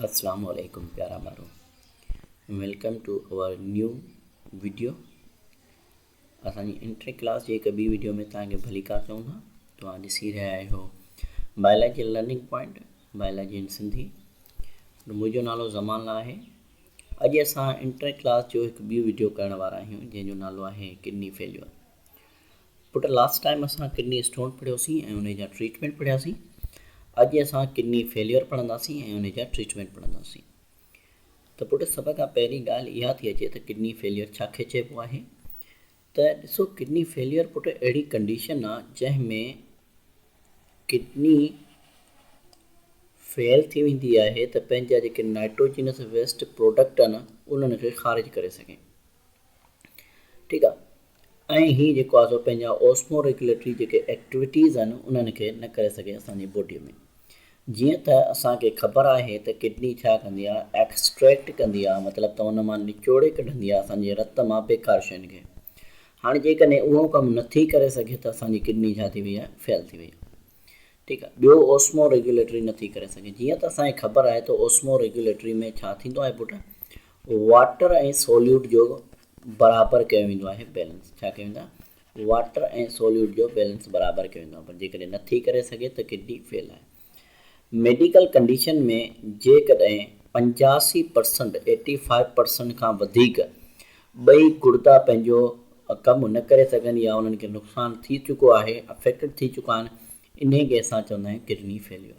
اسلام عليڪم پيارا ٻارو welcome to our new video اسان جي انٽر ڪلاس جي هڪ ٻي ويڊيو ۾ تان کي ڀليڪار چون ٿا توهان ڏسي رهيا آهيو biology learning point biology in Sindhi منهنجو نالو زمان لا آهي اڄ اسان انٽر ڪلاس جو هڪ ٻي ويڊيو ڪرڻ وارا آهيون جنهن جو نالو آهي ڪڊني فيليور پٽ لاسٽ ٽائيم اسان ڪڊني اسٽون پڙهيوسين ۽ انهي جا ٽريٽمينٽ پڙهياسين اڄ اسان ڪڊني فيليئر پڙهنداسين ۽ انهي جا ٽريٽمينٽ پڙهنداسين ته پٽ سڀ کان پهرين ڳالهه اها ٿي اچي ته ڪڊني فيليئر ڇا کي چئبو آهي ته ڏسو ڪڊني فيليئر پٽ اهڙي ڪنڊيشن آهي جنهن ۾ ڪڊني فيل ٿي ويندي آهي ته پنهنجا جيڪي نائٽروجينس ويسٽ پروڊڪٽ آهن انهن کي خارج ڪري سگهي ٺيڪ آ ۽ هي جيڪو آ سو پنهنجا اوسمو ريگيوليٽري جيڪي ايڪٽويٽيز آهن انهن کي نه ڪري سگهي اسان جي بوڊي ۾ جيئن ته اسان کي خبر آهي ته ڪڊني ڇا ڪندي آ ايڪسٽريڪٽ ڪندي آ مطلب ته ان مان نچوڙي ڪڍندي آ اسان جي رت مان بيڪار شين کي هاڻي جيڪڏهن اهو ڪم نٿي ڪري سگهي ته اسان جي ڪڊني ڇا ٿي وئي آ فيل ٿي وئي آ ٺيڪ آ ٻيو اوسمو ريگيوليٽري نٿي ڪري سگهي جيئن ته اسان کي خبر آهي ته اوسمو ريگيوليٽري ۾ ڇا ٿيندو آهي پٽ واٽر ۽ سوليوٽ جو برابر ڪيو ويندو آهي بيلنس ڇا ڪيو ويندا واٽر ۽ سوليوٽ جو بيلنس برابر ڪيو ويندو آهي پر جيڪڏهن نه ٿي ڪري سگهي ته ڪڊني فيل آهي ميڊيڪل ڪنڊيشن ۾ جيڪڏهن پنجاسي پرسنٽ ايٽي فائيو پرسنٽ کان وڌيڪ ٻئي گڙدا پنهنجو ڪم نه ڪري سگهن يا انهن کي نقصان ٿي چڪو آهي افيڪٽڊ ٿي چڪا آهن انهي کي اسان چوندا آهيون kidney failure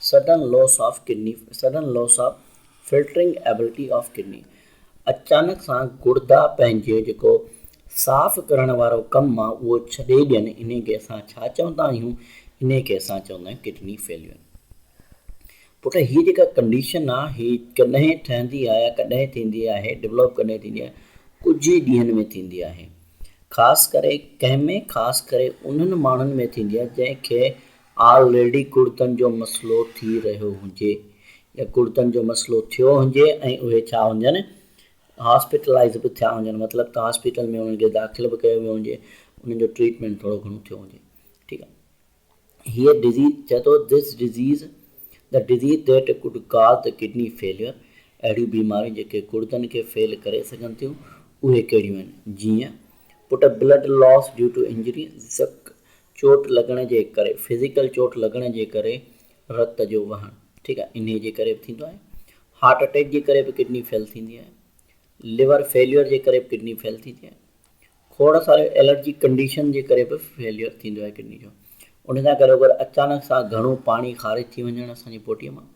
Sudden Loss of Kidney، Sudden Loss of Filtering Ability of Kidney، اچانڪ سان گڙدا پنهنجي جيڪو صاف ڪرڻ وارو ڪم آ اهو ڇڏي ڏين انهي کي اسان ڇا چوندا آهيون انهي کي اسان چوندا آهيون ڪڊني فيليون پٽ هي جيڪا ڪنڊيشن آ هي ڪڏهن ٺهندي آ يا ڪڏهن ٿيندي آهي ڊولوپ ڪڏهن ٿيندي آهي ڪجهه ئي ڏينهن ۾ ٿيندي آهي خاص ڪري ڪنهن ۾ خاص ڪري انهن ماڻهن ۾ ٿيندي آ جنهن کي آل ريڊي ڪڙتن جو مسئلو ٿي رهيو هجي يا ڪڙتن جو مسئلو ٿيو هجي ۽ اهي ڇا هجن هاسپيٽلائيز به ٿيا هجن مطلب ته هاسپيٽل ۾ انهن کي داخل به ڪيو ويو هجي انهن جو ٽريٽمينٽ ٿورو گهڻو ٿيو هجي ٺيڪ آهي هيء ڊزيز چئي ٿو this disease the disease that could cause the kidney failure اهڙيون بيماريون جيڪي ڪڙدن کي فيل ڪري سگهن ٿيون اهي ڪهڙيون آهن جيئن پٽ blood loss due to injury چوٽ لڳڻ جي ڪري Physical چوٽ لڳڻ جي ڪري رت جو وهڻ ٺيڪ آهي انهي جي ڪري به ٿيندو آهي هارٽ اٽيڪ جي ڪري به ڪڊني فيل ٿيندي آهي ليور فيليور جي ڪري به ڪڊني فيل ٿيندي آهي کوڙ ساريون الرجي ڪنڊيشن جي ڪري به فيليور ٿيندو آهي ڪڊني جو ان سان گڏو گڏ اچانڪ سان گهڻو پاڻي خارج ٿي وڃڻ اسان جي بوڊي مان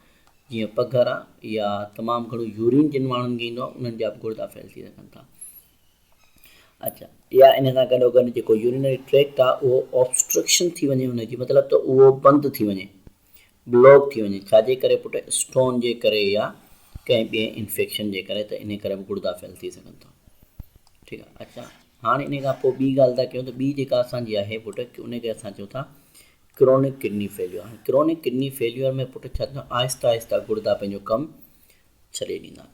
جيئن پگهر آهي يا تمام گهڻو يورين جن ماڻهن کي ايندو آهي انهن جا به گڙدا فيل ٿي سگهن ٿا يا ان سان گڏوگڏ جيڪو يورينري ٽريڪٽ آهي اهو اوبسٽرڪشن ٿي وڃي ان جي مطلب ته اهو بند ٿي وڃي بلاڪ ٿي وڃي ڇاجي ڪري پٽ اسٽون جي ڪري يا ڪنهن ٻئي انفيڪشن جي ڪري ته ان ڪري به گڙدا فيل ٿي سگهن ٿا ٺيڪ آهي اچا هاڻي ان کان پوء ٻي ڳالهه ٿا ڪيون ته ٻي جيڪا اسان جي آهي پٽ ان کي اسان چون ٿا ڪرونڪ ڪڊني فيليور هاڻي ڪرونڪ ڪڊني فيليور ۾ پٽ ڇا ٿيندو آهستي آهستي گڙدا پنهنجو ڪم ڇڏي ڏيندا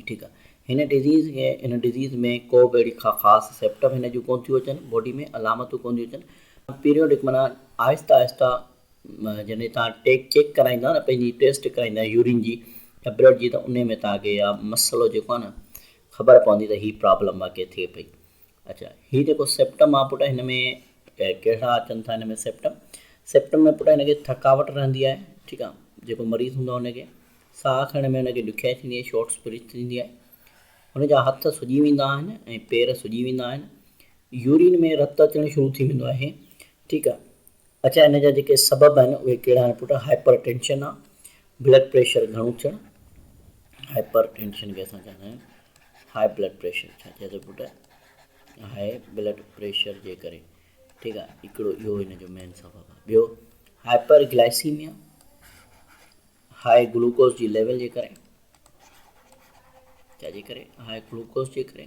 ٺيڪ آ هن ڊزيز کي هن ڊزيز ۾ ڪو به اهڙي ڪا خاص سيپٽم هن جون ڪون ٿيون اچن باڊي ۾ علامتون ڪون ٿيون اچن پيريوڊڪ معنيٰ آهسته آهسته جڏهن تان ٽيڪ چيڪ ڪرائيندا نه پنهنجي ٽيسٽ ڪرائيندا يورين جي يا بلڊ جي ته ان ۾ تان کي اها مسئلو جيڪو آ نه خبر پوندي ته هي پرابلم واقعي ٿئي پئي اڇا هي جيڪو سيپٽم آ پٽ هن ۾ ڪهڙا اچن ٿا هن ۾ سيپٽم سيپٽم ۾ پٽ هن کي ٿڪاوٽ رهندي آهي ٺيڪ آ جيڪو مريض هوندو آ هن کي ساهه کڻڻ ۾ هن کي ڏکيائي ٿيندي آهي شارٽس بريٿ ٿيندي آهي هن جا هٿ سڄي ويندا آهن ۽ پير سڄي ويندا آهن يورين ۾ رت اچڻ شروع ٿي ويندو آهي ٺيڪ آ اچا هن جا جيڪي سبب آهن اهي ڪهڙا آهن پٽ هائپر ٽينشن آ بلڊ پريشر گهڻو ٿيڻ، هائپر ٽينشن کي اسان چوندا آهيون هاء بلڊ پريشر ڇا چئي ٿو پٽ هاء بلڊ پريشر جي ڪري ٺيڪ آهي هڪڙو اهو ان جو مين سبب آهي ٻيو هائپر گلائسيميا هاء گلوڪوز جي ليول جي ڪري ڇا جي ڪري هاء گلوڪوز جي ڪري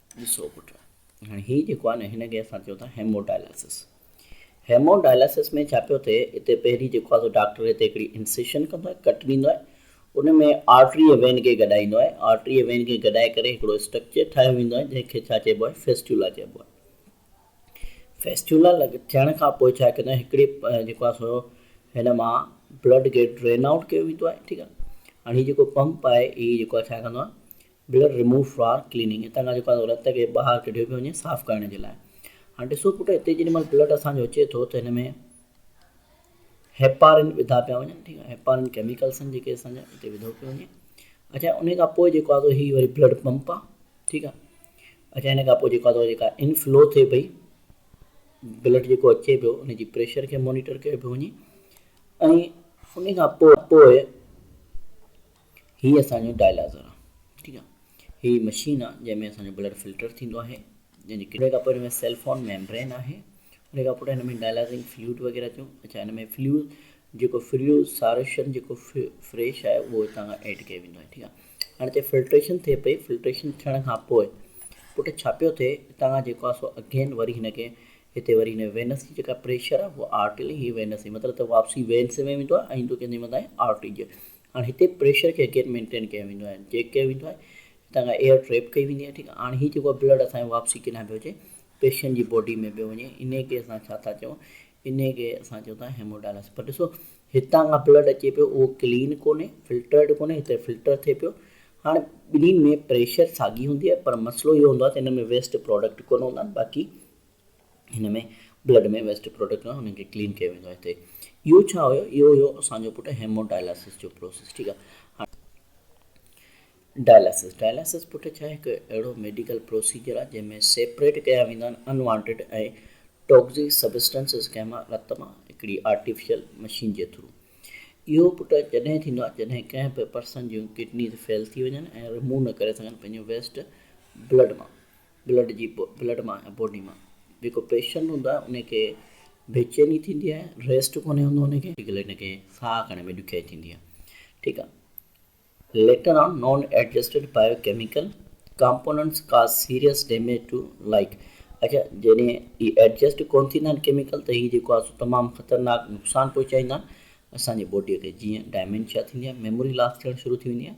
ڏسو پٽ هاڻي هي جيڪو آهي نه هن کي اسان چيو ٿا هيمو ڊائلاسس هيمو ڊائلاسس ۾ ڇا پيو ٿئي اتي پهرين جيڪو آهي سو ڊاڪٽر هتي هڪڙي انسيشن ڪندو آهي ڪٽ ڏيندو آهي ان ۾ آرٽري ۽ وين کي گڏائيندو آهي آرٽري ۽ وين کي گڏائي ڪري هڪڙو اسٽرڪچر ٺاهيو ويندو آهي جنهن کي ڇا چئبو آهي فيسٽولا چئبو آهي فيسٽولا لڳ ٿيڻ کان پوء ڇا ڪندو آهي هڪڙي جيڪو آهي سو هن مان بلڊ کي ڊرين آئوٽ ڪيو ويندو آهي ٺيڪ آهي هاڻي هي جيڪو پمپ آهي هي جيڪو آهي ڇا ڪندو آهي بلڊ ريموو فار ڪليننگ هتان کان جيڪو رت کي ٻاهر ڪڍيو پيو وڃي صاف ڪرڻ جي لاء هاڻ ڏسو پٽ هتي جيڏي مهل بلڊ اسان جو اچي ٿو ته هن ۾ هيپارين وڌا پيا وڃن ٺيڪ آهي هيپارين ڪيميڪلس آهن جيڪي اسان جا هتي وڌو پيو وڃي اچا ان کان پوء جيڪو آهي هي وري بلڊ پمپ آهي ٺيڪ آهي اچا ان کان پوء جيڪو آهي جيڪا انفلو ٿئي پئي بلڊ جيڪو اچي پيو ان جي پريشر کي مانيٽر ڪيو پيو وڃي ۽ ان کان پوء هي اسان جو ڊائلازر آ ٺيڪ آ هي مشين آ جنهن ۾ اسان جو بلڊ فلٽر ٿيندو آهي جنهن جي ڪري کانپوء هن ۾ سيلفون ميمبرين آهي ان کان پوٽ هن ۾ ڊائلازنگ فلوئڊ وغيره ٿيون اچا هن ۾ فليو جيڪو فليو سارشن جيڪو فريش آهي اهو هتان کان ايڊ ڪيو ويندو آهي ٺيڪ آ هاڻي هتي فلٽريشن ٿئي پئي فلٽريشن ٿيڻ کان پوء پوٽ ڇا پيو ٿئي هتان کان جيڪو آ سو اگين وري هن کي هتي وري هن وينس جي جيڪا پريشر آ اهو آرٽري هي وينس مطلب ته واپسي وينس ۾ ويندو آ ۽ ايندو ڪنهن جي مٿان آرٽري جي هاڻ هتي پريشر کي اگين مينٽين ڪيو ويندو آهي چيڪ ڪيو ويندو آهي هتان کان ايئر ٽريپ ڪئي ويندي آهي ٺيڪ آهي هاڻ هي جيڪو آهي بلڊ اسان جو واپسي ڪيڏانهن پيو اچي پيشنٽ جي باڊي ۾ پيو وڃي انهي کي اسان ڇا ٿا چئون انهي کي اسان چئون ٿا هيمو ڊائلس پر ڏسو هتان کان بلڊ اچي پيو اهو ڪلين ڪونهي فلٽرڊ ڪونهي هتي فلٽر ٿئي پيو هاڻ ٻنهي ۾ پريشر ساڳي هوندي آهي پر مسئلو اهو هوندو آهي ته هن ۾ ويسٽ پراڊڪٽ ڪونه هوندا آهن باقي هن ۾ بلڊ ۾ ويسٽ پروڊڪٽ هوندا آهن انهن کي ڪلين ڪيو ويندو آهي هتي اهو ڇا هيو اهو هيو اسان جو پٽ هيمو ڊائلاسس جو پروسيس ٺيڪ آهي ڊائلاسس ڊائلاسس پٽ ڇا هڪ اهڙو ميڊيڪل پروسيجر آهي جنهن ۾ سيپريٽ ڪيا ويندا آهن انوانٽيڊ ۽ ٽوڪزي سبسٽنسز ڪنهن مان رت مان هڪڙي آرٽيفيشل مشين جي ٿرو اهو پٽ جڏهن ٿيندو آهي جڏهن ڪنهن به پرسن جون ڪڊنيز فيل ٿي وڃن ۽ رموو نه ڪري سگهن پنهنجو ويسٽ بلڊ مان بلڊ جي بلڊ مان يا باڊي مان جيڪو پيشنٽ هوندو آهي ان کي بي چيني ٿيندي آهي ريسٽ ڪونهي هوندو ان کي ڪلي ان کي ساهه کڻڻ ۾ ڏکيائي ٿيندي آهي ٺيڪ آهي later on non adjusted biochemical components ڪا سيريس ڊيميج ٽو لائيڪ اچا جڏهن هي ايڊجسٽ ڪون ٿيندا آهن ڪيميڪل ته هي جيڪو آهي سو تمام خطرناڪ نقصان پهچائيندا آهن اسان جي باڊي کي جيئن ڊائمينشيا ٿيندي آهي ميموري لاس ٿيڻ شروع ٿي ويندي آهي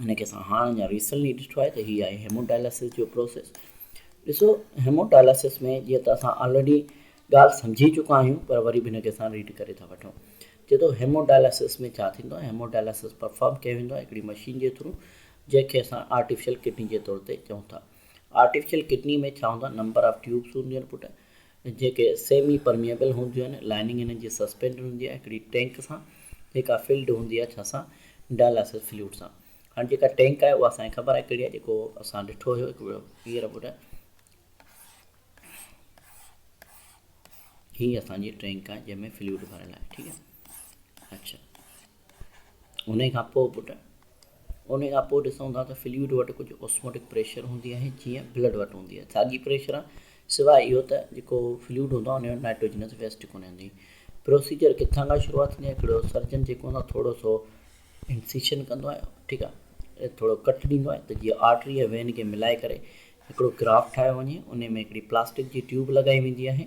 هن کي اسان هاڻ اڃا ريسنٽلي ڏٺو آهي ته هي آهي هيموڊائلسس جو پروسيس ڏسو هيموڊائلسس ۾ جيئن ته اسان آلريڊي ڳالهه سمجهي چڪا آهيون پر وري به هن کي اسان ريڊ ڪري ٿا وٺون چئي ٿو هيموڊائلسس ۾ ڇا ٿيندو آهي هيموڊائلسس پرفارم ڪيو ويندو آهي هڪڙي مشين جي ٿرو جنهن کي اسان آرٽيفيشل ڪڊني جي طور تي چئون ٿا آرٽيفيشل ڪڊني ۾ ڇا هوندو آهي نمبر آف ٽيوبس هونديون آهن پٽ جيڪي سيمي پرميئبل هونديون آهن، لائننگ انهن جي سسپينڊ هوندي آهي هڪڙي ٽينڪ سان جيڪا فلڊ هوندي آهي ڇا سان ڊائلاسس فلوئڊ سان هاڻي جيڪا ٽينڪ آهي اها اسان کي خبر آهي ڪهڙي آهي جيڪو اسان ڏٺو هيو هڪ ڀيرو هينئر ٻڌاء هي اسان جي ٽينڪ آهي جنهن ۾ فلوئڊ ڀريل آهي ٺيڪ آهي اڇا انهيء کان پوء پٽ، انهيء کان پوء ڏسون ٿا ته فلوئڊ وٽ ڪجهه اوسموٽڪ پريشر هوندي آهي جيئن بلڊ وٽ هوندي آهي. ساڳي پريشر آهي سواء اهو ته جيڪو فلوئڊ هوندو آهي انهيء وٽ نائٽروجنس ويسٽ ڪونهي هوندي. پروسيجر ڪٿان کان شروعات ٿيندي آهي ڪهڙو سرجن جيڪو هوندو آهي ٿورو سو انسيشن ڪندو آهي ٺيڪ آهي ٿورو ڪٽ ڏيندو آهي ته جيئن آرٽري ۽ وين کي ملائي ڪري هڪڙو گراف ٺاهيو وڃي انهيء ۾ هڪڙي پلاسٽڪ جي ٽيوب لڳائي ويندي آهي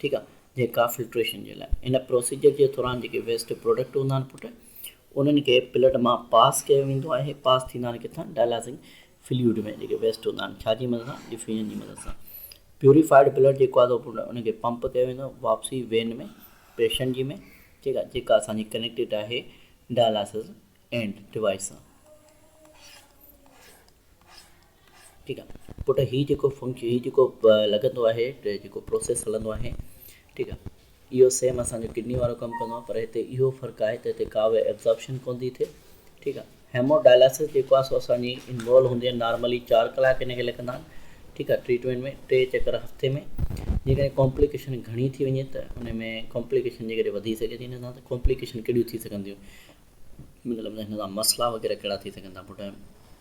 ٺيڪ آ جي ڪا فلٽريشن جي لاء ان پروسيجر جي دوران جيڪي ويسٽ پروڊڪٽ هوندا آهن پٽ انهن کي پلٽ مان پاس ڪيو ويندو آهي پاس ٿيندا آهن ڪٿان ڊائلاسنگ فليوڊ ۾ جيڪي ويسٽ هوندا آهن ڇا جي مدد سان ڊفيوجن جي مدد سان پيوريفائيڊ پلٽ جيڪو آهي پٽ ان کي پمپ ڪيو ويندو واپسي وين ۾ پيشنٽ جي ۾ ٺيڪ آهي جيڪا اسان جي ڪنيڪٽيڊ آهي ڊائلاسز اينڊ ڊوائس سان ٺيڪ آ پٽ هي جيڪو فنڪشن هي جيڪو لڳندو آهي جيڪو پروسيس هلندو آهي ٺيڪ آ اهو سيم اسان جو ڪڊني وارو ڪم ڪندو آهي پر هتي اهو فرق آهي ته هتي ڪا به ابزارپشن ڪون ٿي ٿئي ٺيڪ آ هيمو ڊائلاسس جيڪو آهي سو اسان جي انوالو هوندي آهي نارملي چار ڪلاڪ هن کي لڳندا آهن ٺيڪ آ ٽريٽمينٽ ۾ ٽي چڪر هفتي ۾ جيڪڏهن ڪامپليڪيشن گهڻي ٿي وڃي ته ان ۾ ڪامپليڪيشن جيڪڏهن وڌي سگهي ٿي هن سان ته ڪامپليڪيشن ڪهڙيون ٿي سگهنديون مطلب هن سان مسئلا وغيره ڪهڙا ٿي سگهن ٿا پٽ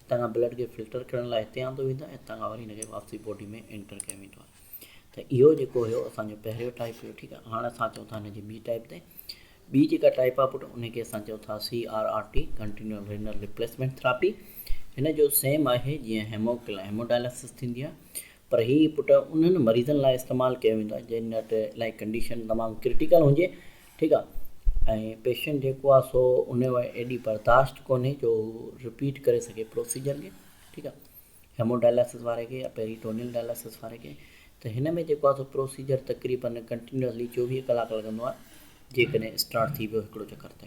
اتان کان بلڊ کي فلٽر ڪرڻ لاء هتي آندو ويندو آهي ۽ هتان کان وري هن کي واپسي باڊي ۾ انٽر ڪيو ويندو آهي ته اهو جيڪو هيو اسانجو پهريون ٽائيپ هيو ٺيڪ آهي هاڻ اسان اچون ٿا هن جي ٻي ٽائيپ تي ٻي جيڪا ٽائيپ آهي پٽ ان کي اسان چئو ٿا C R R T continuous renal replacement therapy هن جو سيم آهي جيئن هيموڪل هيموڊائلسس ٿيندي آهي پر هي پٽ انهن مريضن لاء استعمال ڪيو ويندو آهي جن وٽ الاهي ڪنڊيشن تمام ڪرٽيڪل هجي ٺيڪ آ ۽ پيشنٽ جيڪو آ سو انهي وٽ ايڏي برداشت ڪونهي جو رپيٽ ڪري سگهي پروسيجر کي ٺيڪ آ هيمو ڊائلاسس واري کي يا پيري ٽونيل ڊائلاسس واري کي ته هن ۾ جيڪو آ سو پروسيجر تقريبن ڪنٽينيوسلي چوويهه ڪلاڪ لڳندو آ جيڪڏهن اسٽارٽ ٿي ويو هڪڙو چڪر ته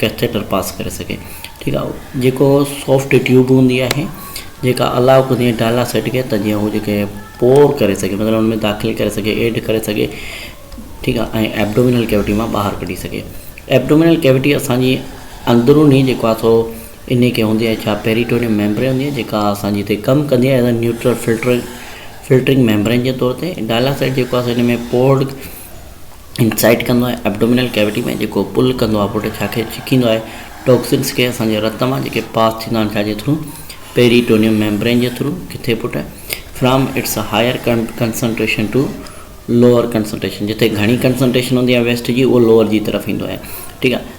ڪيٿيٽر پاس ڪري سگهي ٺيڪ آ جيڪو سوفٽ ٽيوب هوندي آهي جيڪا الاء ڪندي ڊائلاسٽ کي ته جيئن هو جيڪي پور ڪري سگهي مطلب ان ۾ داخل ڪري سگهي ايڊ ڪري سگهي ٺيڪ آ ۽ ابڊومينل ڪيوٽي مان ٻاهر ڪڍي سگهي ابڊومينل ڪيوٽي اسانجي اندروني جيڪو آ سو انهي کي هوندي آهي ڇا پيريٽونيم ميمبرين هوندي آهي جيڪا اسانجي هتي ڪم ڪندي آهي as neutral filter filtering membrane جي طور تي ڊائلاسٽ جيڪو آ سو ان ۾ پورڊ انسائيٽ ڪندو آهي ابڊومينل ڪيوٽي ۾ جيڪو پل ڪندو آهي پٽ کي آخر ڇڪيندو آهي ٽوڪسنس کي اسان جي رت مان جيڪي پاس ٿيندا آهن ڇا جي ٿرو پيريٽونيم ميمبرين جي ٿرو ڪٿي پٽ from its higher concentration to lower concentration جتي گهڻي ڪنسنٽريشن هوندي آهي ويسٽ جي اهو لوئر جي طرف ايندو آهي ٺيڪ آهي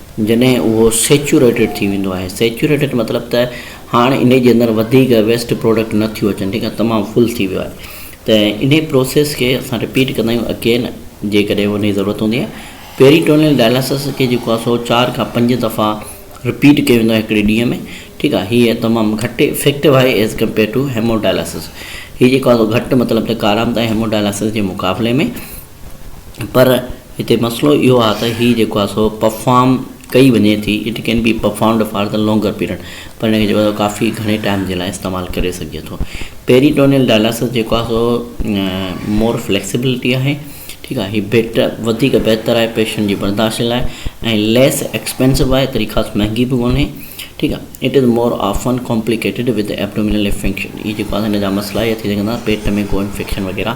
جڏهن اهو سيچوريٽيڊ ٿي ويندو آهي سيچوريٽيڊ مطلب ته هاڻ انهي جي اندر وڌيڪ ويسٽ پروڊڪٽ نه ٿيو اچن ٺيڪ آهي تمام فل ٿي ويو آهي ته انهي پروسيس کي اسان رپيٽ ڪندا آهيون اگين جيڪڏهن انهي ضرورت هوندي آهي پيريٽونيل ڊائلاسس کي جيڪو آهي سو چار کان پنج دفعا رپيٽ ڪيو ويندو آهي هڪڙي ڏينهن ۾ ٺيڪ آهي هي تمام گهٽ افيڪٽو آهي ايز ڪمپيئر ٽو هيموڊائلاسس هي جيڪو آهي سو گهٽ مطلب ته ڪارآمد آهي هيموڊائلاسس جي مقابلي ۾ پر هتي مسئلو اهو آهي ته هي جيڪو آهي سو پرفارم ڪئي وڃي ٿي it can be performed for the longer period پر هن کي جيڪو آهي ڪافي گهڻي ٽائيم جي لاء استعمال ڪري سگهجي ٿو پيريٽونيل ڊائلاسس جيڪو آهي سو مور فليڪسبلٽي آهي ٺيڪ آهي هي بيٽ وڌيڪ بهتر آهي پيشنٽ جي برداشت جي لاء ۽ ليس ايڪسپينسو آهي تري خاص مهنگي به ڪونهي ٺيڪ آهي it is more often complicated with abdominal infection هي جيڪو آهي هن جا مسئلا اهي ٿي سگهن ٿا پيٽ ۾ ڪو انفيڪشن وغيره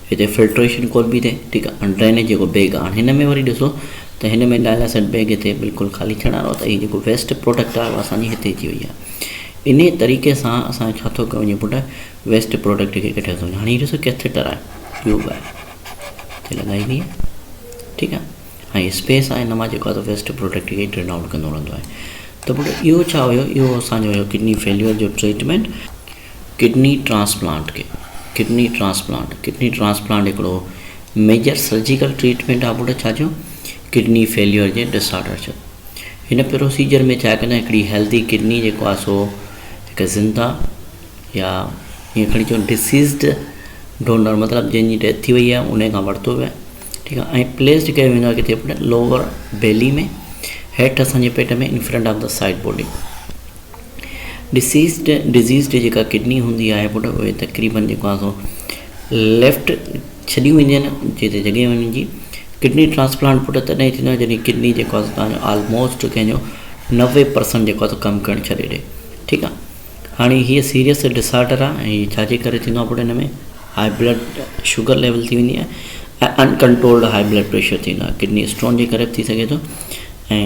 هتي فلٽريشن ڪو به نه ٺيڪ آهي هاڻي ڊرينيج جيڪو بيگ آهي هاڻي هن ۾ وري ڏسو ته هن ۾ ڊائلاسائڊ بيگ هتي بلڪل خالي ٿيڻ وارو ته هي جيڪو ويسٽ پروڊڪٽ آهي اها اسانجي هتي اچي وئي آهي انهي طريقي سان اسان ڇا ٿو ڪيو وڃي پٽ ويسٽ پروڊڪٽ کي ڪڍيو ٿو وڃي هاڻي هي ڏسو ڪيٿيٽر آهي ٽيوب آهي هتي لڳائي وئي آهي ٺيڪ آهي هاڻي اسپيس آهي هن مان جيڪو آهي ويسٽ پروڊڪٽ کي ڊرين آئوٽ ڪندو رهندو آهي ته پٽ اهو ڇا هيو اهو اسانجو هيو ڪڊني فيليور جو treatment kidney transplant, Kidney Transplant، kidney transplant هڪڙو ميجر سرجيڪل ٽريٽمينٽ آهي بڙڇ جو ڪڊني فيليور جي ڊس آرڊر جو. هن پروسيجر ۾ جيڪڏهن هڪڙي هيلڌي ڪڊني جيڪو آهي سو هڪ زنده يا ائين کڻي چئون ڊسيزڊ ڊونر مطلب جنهن جي ڊيٿ ٿي وئي آهي انهي کان ورتو ويو آهي ٺيڪ آهي ۽ پليسڊ ڪيو ويندو آهي ڪٿي لوور بيلي ۾ هيٺ اسان جي پيٽ ۾ in front of the side body. Deceased, Deceased، جيڪا ڪڊني هوندي آهي پٽ اهي تقريبن جيڪو آهي سو ليفٽ ڇڏيون وينديون آهن جنهن تي جڳهه وڃي جي ڪڊني ٽرانسپلانٽ پٽ تڏهن ٿيندو آهي جڏهن ڪڊني جيڪو آهي سو تنهنجو آلموسٽ ڪنهن جو نوي پرسنٽ جيڪو آهي سو ڪم ڪرڻ ڇڏي ڏي ٺيڪ آهي هاڻي هي سيريس ڊسآرڊر آهي ۽ هي ڇاجي ڪري ٿيندو آهي پٽ هن ۾ هاء بلڊ شوگر ليول ٿي ويندي آهي ۽ uncontrolled high blood pressure ٿيندو آهي ڪڊني اسٽون جي ڪري به ٿي سگهي ٿو ۽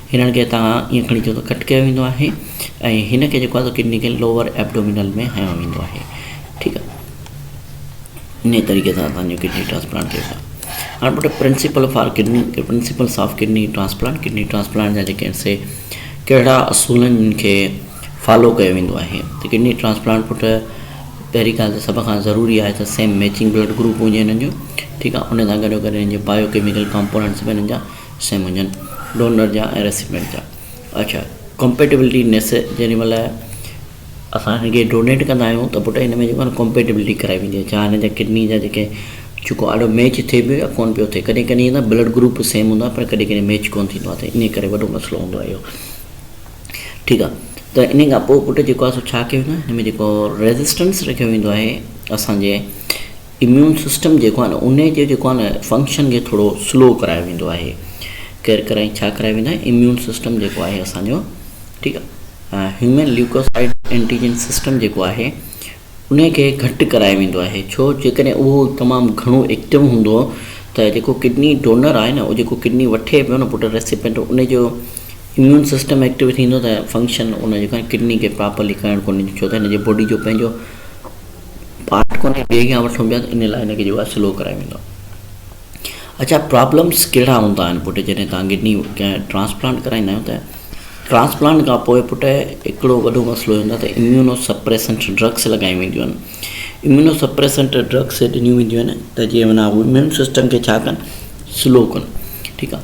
هنن کي هتان ائين کڻي چيو ته ڪٽ ڪيو ويندو آهي ۽ هن کي جيڪو آهي سو ڪڊني کي لوور ائبڊومينل ۾ هنيو ويندو آهي ٺيڪ آهي انهي طريقي سان اسان جو ڪڊني ٽرانسپلانٽ ٿئي ٿا هاڻ پٽ principle for kidney principles of kidney transplant kidney transplant جا جيڪي سي ڪهڙا اصولن کي فالو ڪيو ويندو آهي ته ڪڊني ٽرانسپلانٽ پٽ پهرين ڳالهه ته سڀ کان ضروري آهي ته سيم ميچنگ بلڊ گروپ هجي هنن جو ٺيڪ آهي ان سان گڏو گڏ هنن جي بايو ڪيميڪل ڪمپوننٽس به هنن جا سائين منجهن ڊونر جا ۽ ريسيپينٽ جا اڇا ڪمپيٽيبلٽي نيس جيڏي مهل اسان هن کي ڊونيٽ ڪندا آهيون ته پٽ هن ۾ جيڪو آهي ڪمپيٽيبلٽي ڪرائي ويندي آهي جا هن جا ڪڊني جا جيڪي چڪو آڏو ميچ ٿئي پيو يا ڪون پيو ٿئي ڪڏهن ڪڏهن ائين بلڊ گروپ سيم هوندا آهن پر ڪڏهن ڪڏهن ميچ ڪون ٿيندو آهي ته ان ڪري وڏو مسئلو هوندو آهي اهو ٺيڪ آهي ته ان کان پوء پٽ جيڪو آهي سو ڇا ڪيو ويندو آهي هن ۾ جيڪو ريزسٽنس رکيو ويندو آهي اسانجي اميون سسٽم جيڪو آهي نه ان جو جيڪو آهي نه فنڪشن کي ٿورو سلو ڪرايو ويندو آهي ڪير ڪرائي ڇا ڪرايو ويندو آهي اميون سسٽم جيڪو آهي اسانجو ٺيڪ آهي هيومن ليوڪوسائيڊ انٽيجن سسٽم جيڪو آهي ان کي گهٽ ڪرايو ويندو آهي ڇو جيڪڏهن اهو تمام گهڻو ايڪٽو هوندو ته جيڪو ڪڊني ڊونر آهي نه جيڪو ڪڊني وٺي پيو نه پٽ ريسيپينٽ ان جو اميون سسٽم ايڪٽو ٿيندو ته فنڪشن ان جيڪو ڪڊني کي پراپرلي ڪرڻ ڪونه ڏيندو ڇو ته هن جي باڊي جو پنهنجو پارٽ ڪونهي ٻئي کان وٺون پيا ته ان لاء هن کي جيڪو آهي سلو ڪرائي ويندو آهي اچا پرابلمس ڪهڙا هوندا آهن پٽ جڏهن تان ڪڊني ڪنهن ٽرانسپلانٽ ڪرائيندا آهيو ته ٽرانسپلانٽ کان پوء پٽ هڪڙو وڏو مسئلو هوندا ته اميونو سپريسنٽ ڊرگس لڳايون وينديون آهن اميونو سپريسنٽ ڊرگس ڏنيون وينديون آهن ته جيئن معنيٰ اميون سسٽم کي ڇا ڪن سلو ڪن ٺيڪ آهي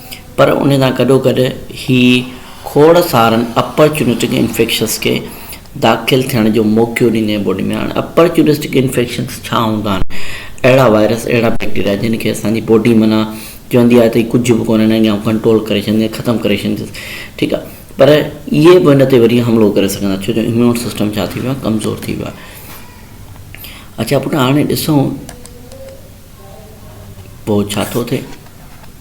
پر ان سان گڏوگڏ هي کوڙ سارن اپرچونسٽڪ انفيڪشنز کي داخل ٿيڻ جو موقعو ڏيندي ۽ باڊي ۾ هاڻي اپرچونسٽڪ انفيڪشنز ڇا هوندا آهن اهڙا وائرس اهڙا بيڪٽيريا جن کي اسان جي باڊي معنيٰ چوندي آهي ته هي ڪجهه به ڪونه انهن کي آئون ڪنٽرول ڪري ڇڏيندس ختم ڪري ڇڏيندس ٺيڪ آهي پر اهي به ان تي وري حملو ڪري سگهندا ڇو جو اميون سسٽم ڇا ٿي ويو آهي ڪمزور ٿي ويو آهي اچا پٽ هاڻي ڏسون پوء ڇا ٿو ٿئي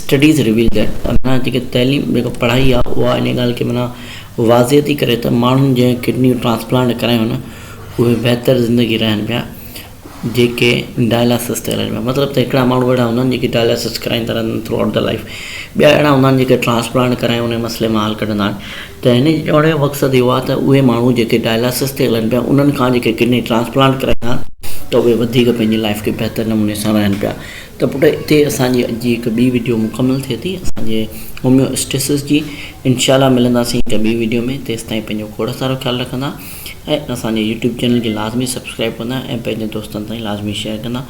Studies reveal that معنيٰ جيڪي تعليم جيڪا پڙهائي آهي اها ان ڳالهه کي معنيٰ واضح ٿي ڪري ته ماڻهن جنهن ڪڊنيون ٽرانسپلانٽ ڪرايون نه اهي بهتر زندگي رهن پيا جيڪي ڊائلاسس تي هلن پيا مطلب ته هڪڙا ماڻهو اهڙا هوندا آهن جيڪي ڊائلاسس ڪرائيندا رهندا آهن ٿرو آئوٽ دي لائيف ٻيا اهڙا هوندا آهن جيڪي ٽرانسپلانٽ ڪرائي ان مسئلي مان حل ڪڍندا آهن ته هن جي چوڻ جو مقصد اهو آهي ته اهي ماڻهو جيڪي ڊائلاسس تي هلن پيا انهن کان جيڪي ڪڊني ٽرانسپلانٽ ڪرائيندا آهن ته اهي وڌيڪ پنهنجي لائيف کي بهتر نموني سان رهن پيا ته پٽ اتي اسان جي اڄ جي هڪ ٻي وڊيو مڪمل ٿئي ٿي اسان جي هوميواسٽيسس جي انشاء الله ملنداسين هڪ ٻي وڊيو ۾ تيستائين پنهنجو کوڙ سارو خيال رکندا ۽ اسان جي يوٽيوب چينل کي لازمي سبسڪرائب ڪندا ۽ پنهنجن دوستن تائين لازمي شيئر ڪندا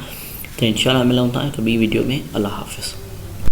ته انشاء الله ملون ٿا هڪ ٻي وڊيو ۾ الله حافظ